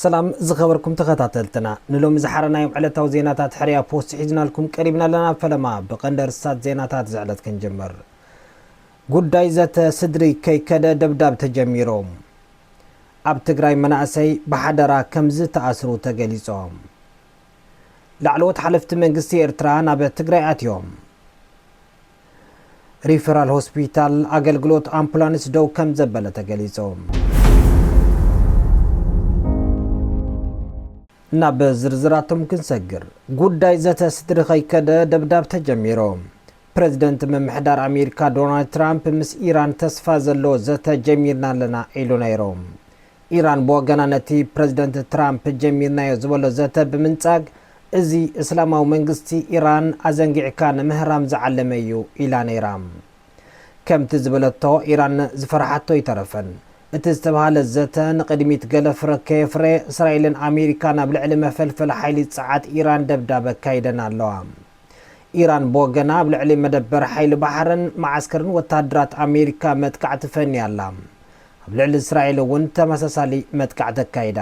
ሰላም ዝኸበርኩም ተኸታተልትና ንሎሚ ዝሓረናዮም ዕለታዊ ዜናታት ሕርያ ፖስት ሒዝናልኩም ቀሪብና ኣለና ፈለማ ብቐንዲ ርስታት ዜናታት ዝዕለት ክንጅምር ጉዳይ ዘተ ስድሪ ከይከደ ደብዳብ ተጀሚሮም ኣብ ትግራይ መናእሰይ ብሓደራ ከምዝተኣስሩ ተገሊጾም ላዕለዎት ሓለፍቲ መንግስቲ ኤርትራ ናብ ትግራይ ኣትዮም። ሪፈራል ሆስፒታል ኣገልግሎት ኣምፑላንስ ደው ከምዘበለ ተገሊጹ። ናብ ዝርዝራቶም ክንሰግር፣ ጉዳይ ዘተ ስድሪ ከይከደ ደብዳብ ተጀሚሩ። ፕረዚደንት ምምሕዳር ኣሜሪካ ዶናልድ ትራምፕ ምስ ኢራን ተስፋ ዘለዎ ዘተ ጀሚርና ኣለና ኢሉ ነይሩ። ኢራን ብወገና ነቲ ፕረዚደንት ትራምፕ ጀሚርናዮ ዝበሎ ዘተ ብምንጻግ፣ እዚ እስላማዊ መንግስቲ ኢራን ኣዘንጊዕካ ንምህራም ዝዓለመ'ዩ ኢላ ነይራ። ከምቲ ዝበለቶ ኢራን ዝፈርሓቶ ኣይተረፈን። እቲ ዝተብሃለ ዘተ ንቕድሚት ገለ ፍረ ከየፍረየ፣ እስራኤልን ኣሜሪካን ኣብ ልዕሊ መፈልፈሊ ሓይሊ ጸዓት ኢራን ደብዳብ ኣካይደን ኣለዋ። ኢራን ብወገና ኣብ ልዕሊ መደበር ሓይሊ ባሕርን መዓስከርን ወተሃደራት ኣሜሪካ መጥቃዕቲ ፈንያ ኣላ። ኣብ ልዕሊ እስራኤል እውን ተመሳሳሊ መጥቃዕቲ ኣካይዳ።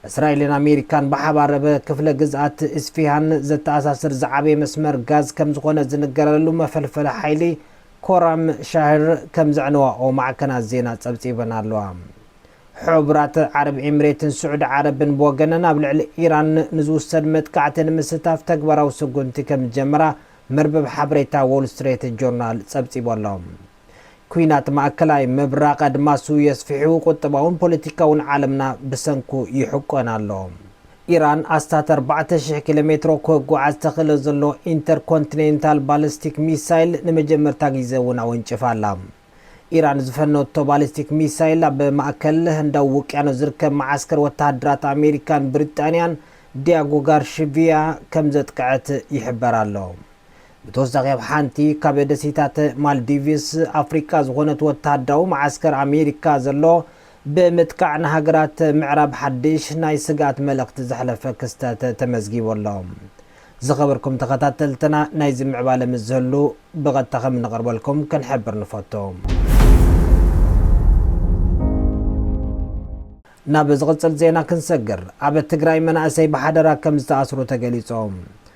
እስራኤልን ኣሜሪካን ብሓባር ኣብ ክፍለ ግዝኣት ኢስፊሃን ዘተኣሳስር ዝዓበየ መስመር ጋዝ ከም ዝኾነ ዝንገረሉ መፈልፈሊ ሓይሊ ኮራም ሻህር ከም ዘዕነዋኦ ማዕከናት ዜና ጸብጺበን ኣለዋ። ሕቡራት ዓረብ ኤምሬትን ስዑዲ ዓረብን ብወገነን ኣብ ልዕሊ ኢራን ንዝውሰድ መጥቃዕቲ ንምስታፍ ተግባራዊ ስጉምቲ ከም ዝጀመራ መርበብ ሓበሬታ ዎል ስትሬት ጆርናል ጸብጺቡ ኣሎ። ኲናት ማእከላይ ምብራቕ ኣድማሱ የስፍሑ፣ ቁጠባውን ፖለቲካውን ዓለምና ብሰንኩ ይሕቆን ኣሎ። ኢራን ኣስታት ኣርባዕተ ሽሕ ኪሎሜትሮ ክጓዓዝ ተኽእሎ ዘሎ ኢንተርኮንቲኔንታል ባሊስቲክ ሚሳይል ንመጀመርታ ግዜ እውን ኣወንጭፋ ኣላ። ኢራን ዝፈነወቶ ባሊስቲክ ሚሳይል ኣብ ማእከል ህንዳዊ ውቅያኖስ ዝርከብ መዓስከር ወተሃደራት ኣሜሪካን ብሪጣንያን ዲያጎ ጋርሽቪያ ከምዘጥቅዐት ይሕበር ኣሎ። ብተወሳኺ ኣብ ሓንቲ ካብ ደሴታት ማልዲቭስ ኣፍሪቃ ዝኾነት ወተሃደራዊ መዓስከር ኣሜሪካ ዘሎ ብምጥቃዕ ንሃገራት ምዕራብ ሓድሽ ናይ ስግኣት መልእኽቲ ዘሕለፈ ክስተት ተመዝጊቡ ኣሎ። ዝኸበርኩም ተኸታተልትና ናይዚ ምዕባለ ምስ ዝህሉ ብቐጥታ ከም እንቐርበልኩም ክንሕብር ንፈቱ። ናብ ዝቕጽል ዜና ክንሰግር፣ ኣብ ትግራይ መናእሰይ ብሓደራ ከም ዝተኣስሩ ተገሊጹ።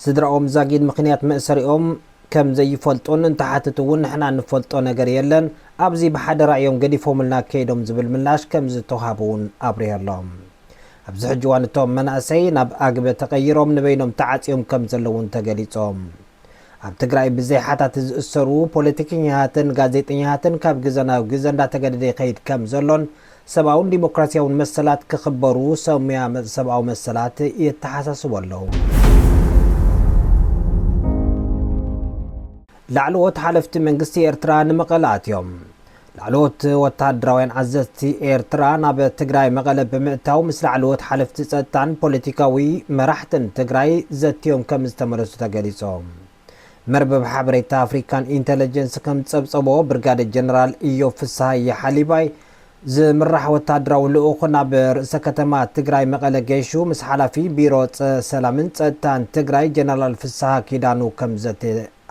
ስድራኦም ዛጊድ ምኽንያት መእሰሪኦም ከም ዘይፈልጡን እንተሓትቱ እውን ንሕና እንፈልጦ ነገር የለን፣ ኣብዚ ብሓደራ እዮም ገዲፎምልና ከይዶም ዝብል ምላሽ ከም ዝተውሃቡ እውን ኣብሪሆ ኣሎ። ኣብዚ ሕጂ እዋን እቶም መናእሰይ ናብ ኣግበ ተቐይሮም ንበይኖም ተዓፅዮም ከም ዘለዉ እውን ተገሊፆ። ኣብ ትግራይ ብዘይ ሓታቲ ዝእሰሩ ፖለቲከኛታትን ጋዜጠኛታትን ካብ ግዘ ናብ ግዘ እንዳተገደደ ይኸይድ ከም ዘሎን ሰብኣውን ዲሞክራሲያውን መሰላት ክኽበሩ ሰሙያ ሰብኣዊ መሰላት የተሓሳስቡ ኣለዉ። ላዕለዎት ሓለፍቲ መንግስቲ ኤርትራ ንመቐለ ኣትዮም። ላዕለዎት ወተሃደራውያን ኣዘዝቲ ኤርትራ ናብ ትግራይ መቐለ ብምእታው ምስ ላዕለዎት ሓለፍቲ ጸጥታን ፖለቲካዊ መራሕትን ትግራይ ዘትዮም ከምዝተመለሱ ተገሊጹ። መርበብ ሓበሬታ ኣፍሪካን ኢንተለጀንስ ከም ዝፀብፀቦ ብርጋዴር ጀነራል እዮብ ፍስሃየ ሓሊባይ ዝምራሕ ወታደራዊ ልኡኽ ናብ ርእሰ ከተማ ትግራይ መቐለ ገይሹ ምስ ሓላፊ ቢሮ ሰላምን ፀጥታን ትግራይ ጀነራል ፍስሃ ኪዳኑ ከም ዘተ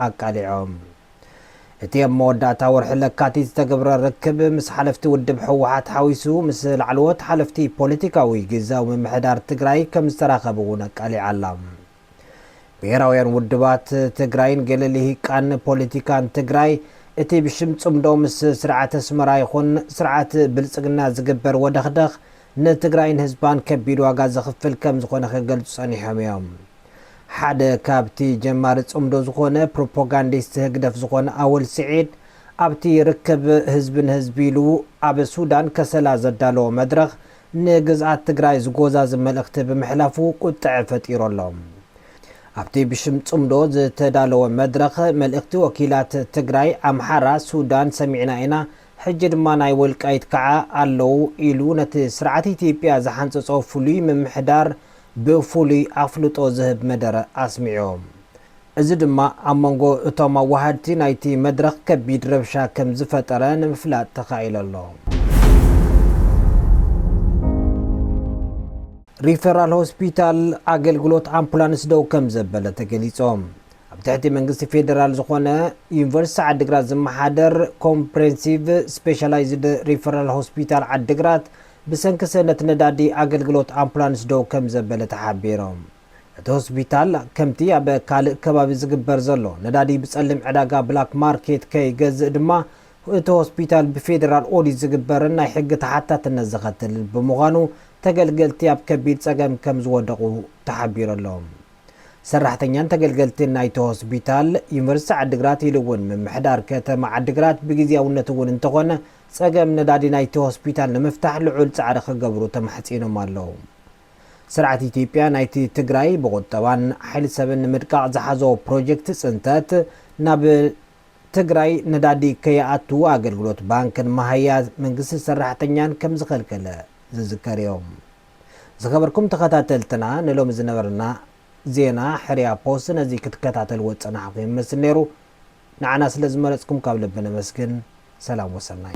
ኣቃሊዖም። እቲ ኣብ መወዳእታ ወርሒ ለካቲት ዝተገብረ ርክብ ምስ ሓለፍቲ ውድብ ህወሓት ሓዊሱ ምስ ላዕለዎት ሓለፍቲ ፖለቲካዊ ግዝያዊ ምምሕዳር ትግራይ ከም ዝተራኸበ እውን ኣቃሊዓ'ላ። ብሄራውያን ውድባት ትግራይን ገለ ሊሂቃን ፖሊቲካን ትግራይ እቲ ብሽም ፅምዶ ምስ ስርዓት ኣስመራ ይኹን ስርዓት ብልፅግና ዝግበር ወደኽደኽ ንትግራይን ህዝባን ከቢድ ዋጋ ዘኽፍል ከምዝኾነ ክገልፁ ፀኒሖም እዮም። ሓደ ካብቲ ጀማሪ ፅምዶ ዝኾነ ፕሮፓጋንዲስት ህግደፍ ዝኾነ ኣወል ስዒድ ኣብቲ ርክብ ህዝቢ ንህዝቢ ኢሉ ኣብ ሱዳን ከሰላ ዘዳለዎ መድረኽ ንግዝኣት ትግራይ ዝጎዛዝብ መልእኽቲ ብምሕላፉ ቁጥዐ ፈጢሩ ኣሎ። ኣብቲ ብሽም ፅምዶ ዝተዳለወ መድረኽ መልእኽቲ ወኪላት ትግራይ፣ ኣምሓራ፣ ሱዳን ሰሚዕና ኢና፣ ሕጂ ድማ ናይ ወልቃይት ከዓ ኣለው ኢሉ ነቲ ስርዓት ኢትዮጵያ ዝሓንፀፆ ፍሉይ ምምሕዳር ብፍሉይ ኣፍልጦ ዝህብ መደረ ኣስሚዑ። እዚ ድማ ኣብ መንጎ እቶም ኣወሃድቲ ናይቲ መድረኽ ከቢድ ረብሻ ከምዝፈጠረ ንምፍላጥ ተኻኢሎ ኣሎ። ሪፈራል ሆስፒታል ኣገልግሎት ኣምፑላንስ ደው ከምዘበለ ተገሊጾ። ኣብ ትሕቲ መንግስቲ ፌደራል ዝኾነ ዩኒቨርሲቲ ዓዲግራት ዝመሓደር ኮምፕሬንሲቭ ስፔሻላይዝድ ሪፈራል ሆስፒታል ዓዲግራት ብሰንኪ ሰእነት ነዳዲ ኣገልግሎት ኣምፑላንስ ደው ከምዘበለ ተሓቢሩ። እቲ ሆስፒታል ከምቲ ኣብ ካልእ ከባቢ ዝግበር ዘሎ ነዳዲ ብጸሊም ዕዳጋ፣ ብላክ ማርኬት፣ ከይገዝእ ድማ እቲ ሆስፒታል ብፌደራል ኦዲት ዝግበርን ናይ ሕጊ ተሓታትነት ዘኸትልን ብምዃኑ ተገልገልቲ ኣብ ከቢድ ጸገም ከምዝወደቑ ተሓቢሩ ኣሎ። ሰራሕተኛን ተገልገልቲን ናይቲ ሆስፒታል፣ ዩኒቨርሲቲ ዓዲግራት ኢሉ እውን ምምሕዳር ከተማ ዓዲግራት ብግዝያውነት እውን እንተኾነ ጸገም ነዳዲ ናይቲ ሆስፒታል ንምፍታሕ ልዑል ጻዕሪ ክገብሩ ተማሕጺኖም ኣለዉ። ስርዓት ኢትዮጵያ ናይቲ ትግራይ ብቑጠባን ሓይሊ ሰብን ንምድቃቕ ዝሓዞ ፕሮጀክት ፅንተት ናብ ትግራይ ነዳዲ ከይኣቱ ኣገልግሎት ባንክን መሃያ መንግስቲ ሰራሕተኛን ከምዝኸልከለ ዝዝከር እዩ። ዝኸበርኩም ተኸታተልትና ንሎሚ ዝነበረና ዜና ሕርያ ፖስት ነዚ ክትከታተልዎ ዝፀናሕኹም ይመስል ነይሩ። ንዓና ስለ ዝመረጽኩም ካብ ልቢ ነመስግን። ሰላም ወሰናይ።